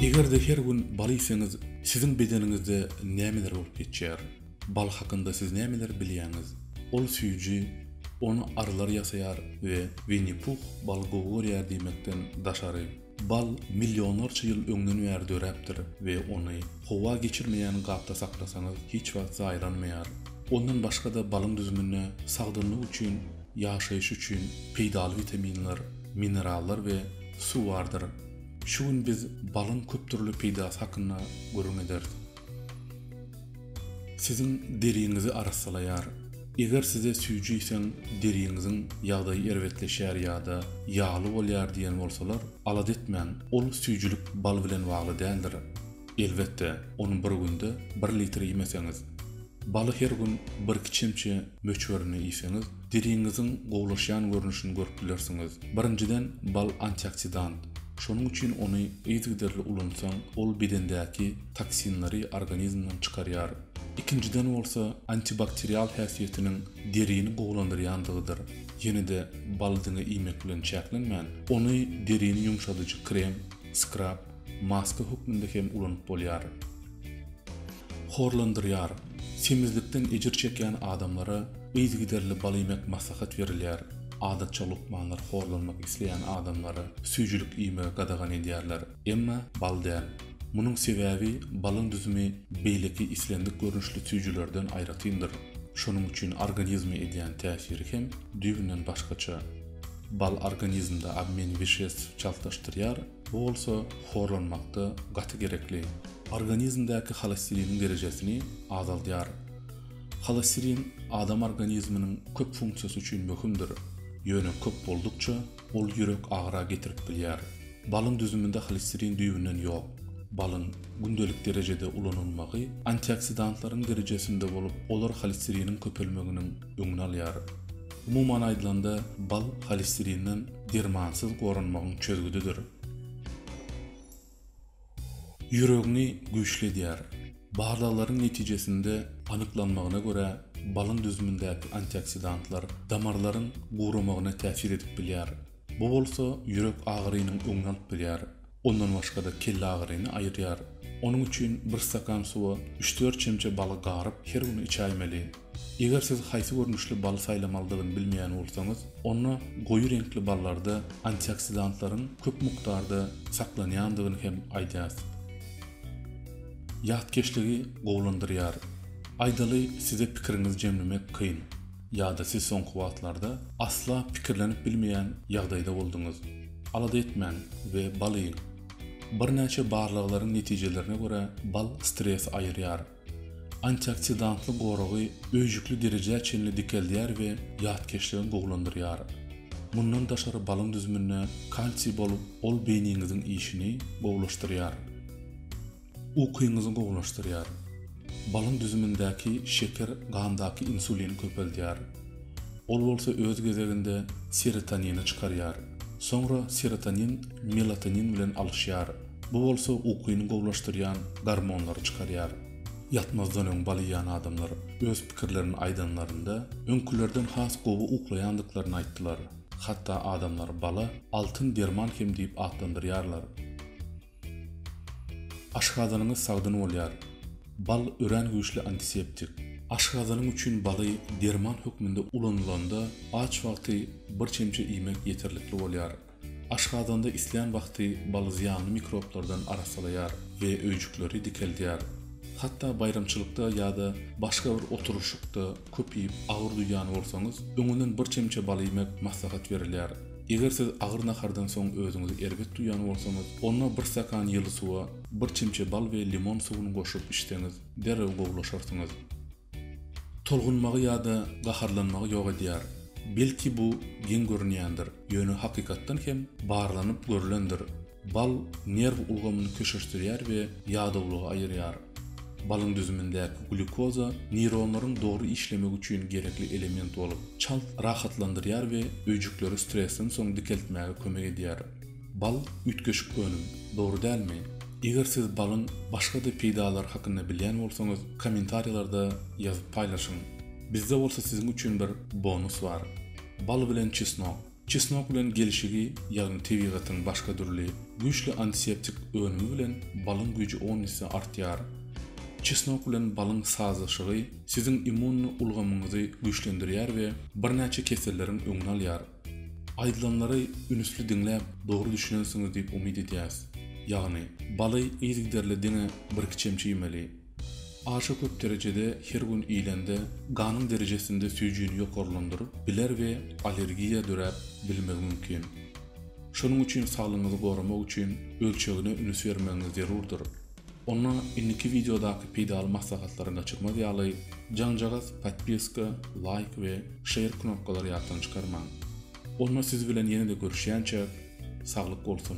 Eger-de her gün bal iýseňiz, siziň bedeniňizde nämeler bolup geçýär? Bal hakynda siz nämeleri bilýäňiz? Ol süýji, ony arylar ýasaýar we Winni-Puh baly gowy görýär diýmekden daşary. Bal millionlarça ýyl öňden bäri döräpdir we ony howa geçirmeýän gapda saklasaňyz hiç wagt zaýalanmaýar. Ondan başga-da balyň düzüminde sagdynlyk üçin, ýaşaýyş üçin peýdaly witaminler, minerallar we suw bardyr. Şu gün biz balyň köpdürli peýdasy hakynda gürrüň ederis. Siziň deriňizi arassalaýar. Eger size süýjüýseň deriňiziň ýagdaýy erbetleşýär ýa-da ýagly bolýar diýen bolsalar, alada etmäň, ol süýjülik bal bilen bagly däldir. Elbetde, ony bir günde bir litr iýmeseňiz. Baly her gün bir-iki çemçe möçberinde iýseňiz, Deriňiziň gowulaşýan görnüşini görüp bilersiňiz. Birinjiden, bal antioksidant. Şonuň üçin ony yzygiderli ulansaň, ol bedendäki toksinleri organizmden çykarýar. Ikinjiden bolsa, antibakterial häsiýetiniň derini gowulandyrýandygydyr. Ýene-de baly diňe iýmek bilen çäklenmän, ony derini ýumşadyjy krem, skrab, maska hökmünde hem ulanyp bolýar. horlandyrýar, semizlikden ejir çekýän adamlara yzygiderli baliýmek maslahat berilýär, adatça lukmanlar horlanmak isleýän adamlara süýjülik iýmegi gadagan edýärler, emma bal däl. Munuň sebäbi balyň düzümi beýleki islendik görnüşli süýjülerden aýratyndyr, şonuň üçin organizme edýän täsiri hem düýbünden başgaça. Bal organizmde obmen wişestw çaltlaşdyrýar, Bu bolsa horlanmakda gaty gerekli organizmdäki holestiriniň derejesini azaldýar. Holestirin adam organizminiň köp funksiýasy üçin möhümdir, ýöne köp boldukça, ol ýürek agyra getirip bilýär. Balyň düzüminde holestirin düýbünden ýok. Balyň gündelik derejede ulanylmagy antioksidantlaryň derejesinde bolup, olar holesteriniň köpelmeginiň, öňüni alýar. Umuman aýdylanda, bal holesterinden dermansyz goranmagyň çözgüdidir. Ýüregiňi güýçli edýär. Barlaglaryň netijesinde anyklanmagyna görä, balyň düzümindäki antioksidantlar damarlaryň guramagyna täsir edip bilýär. Bu bolsa ýürek agyrynyň öňüni alyp bilýär. Ondan başga-da kellagyryny aýyrýar. Onuň üçin bir stakan suwa üç-dört çemçe baly garyp, her gün içäýmeli. Eger siz haýsy görnüşli baly saýlamalydygyny bilmeýän bolsaňyz, onda goýy reňkli ballarda antioksidantlaryň köp mukdarda saklanýandygyny hem aýdýas. Ýatkeşligi gowulandyrýar. Aýdaly, size pikiriňizi jemlemek kyn. Ýa-da siz soňky wagtlarda asla pikirlenip bilmeýän ýagdaýda bolduňyz? Alada etmäň we bal iýiň. Birnäçe barlaglaryň netijelerine görä, bal stresi aýyrýar. Antioksidantly goragy öýjükli derejä çenli dikeldýär we ýatkeşligi gowulandyrýar. Mundan daşary balyň düzüminde kalsiý bolup, ol beýniňiziň işini gowulaşdyrýar. Ukyňyzy gowulaşdyrýar. Balyň düzümindäki şeker gandaky insulini köpeldýär. Ol bolsa öz gezeginde serotonini çykarýar. Soňra serotonin melatonin bilen alyşýar. Bu bolsa ukyny gowulaşdyrýan gormonlary çykarýar. Ýatmazdan öň bal iýen adamlar öz pikirlerini aýdanlarynda, öňkülerden has gowy uklaýandyklaryny aýtdylar. Hatda adamlar bala altyn derman hem diýip atlandyrýarlar. Aşgazanyňyz sagdyn bolýar. Bal örän güýçli antiseptik. Aşgazanyň üçin baly derman hökmünde ulanylanda aç wagty bir çemçe iýmek ýeterlikli bolýar. Aşgazanda islän wagty bal zyýanly mikroblardan arassalaýar we öýjükleri dikeldýär. Hatda baýramçylykda ýa-da başga bir oturyşykda köp iýip agyr duýýan bolsaňyz, öňünden bir çemçe bal iýmek maslahat berilýär. Eger siz agyr nahardan soň özüňizi erbet duýan bolsaňyz, onda bir stakan ýyly suwa bir çemçe bal we limon suwuny goşup içseňiz, derrew gowulaşarsyňyz. Tolgunmagy ýa-da gaharlanmagy ýok edýär. Belki bu geň görünýändir, ýöne hakykatdan hem barlanyp görülendir. Bal nerw ulgamyny köşeşdirýär we ýadawlygy aýyrýar. Balyň düzümindäki glýukoza neýronlaryň dogry işlemegi üçin gerekli element bolup, çalt rahatlandyrýar we öýjükleri stresden soň dikeltmäge kömek edýär. Bal üýtgeşik önüm, dogry dälmi? Eger siz balyň başga-da peýdalary hakynda bilýän bolsaňyz, kommentariýalarda ýazyp paýlaşyň. Bizde bolsa siziň üçin bir bonus bar. Bal bilen çesnok. Çesnok bilen gelşigi, ýagny tebigatyň başga dürli, güýçli antiseptik önümi bilen balyň güýji on esse artýar. Çesnok bilen balyň sazlaşygy siziň immunny ulgamyňyzy güýçlendirýär we birnäçe keselleriň öňüni alýar. Aýdylanlary ünüsli diňläp, dogry düşünensiňiz diýip umyt edýäs. Ýagny, baly yzygiderli diňe birki çemçe iýmeli. Aşa köp derejede her gün iýlende ganyň derejesinde süýjini ýokarlandyryp biler we allergiýa döräp bilmegi mümkin. Şonuň üçin saglygyňyzy goramak üçin ölçegine ünüs bermegiňiz zerurdyr. Onda indiki wideodaky peýdaly maslahatlary gaçyrmaz ýaly jaňjagaz podpiska, laýk we şeýr knopkalary ýatdan çykarmaň. Onda siz bilen ýene-de görüşýänçäk saglyk bolsun!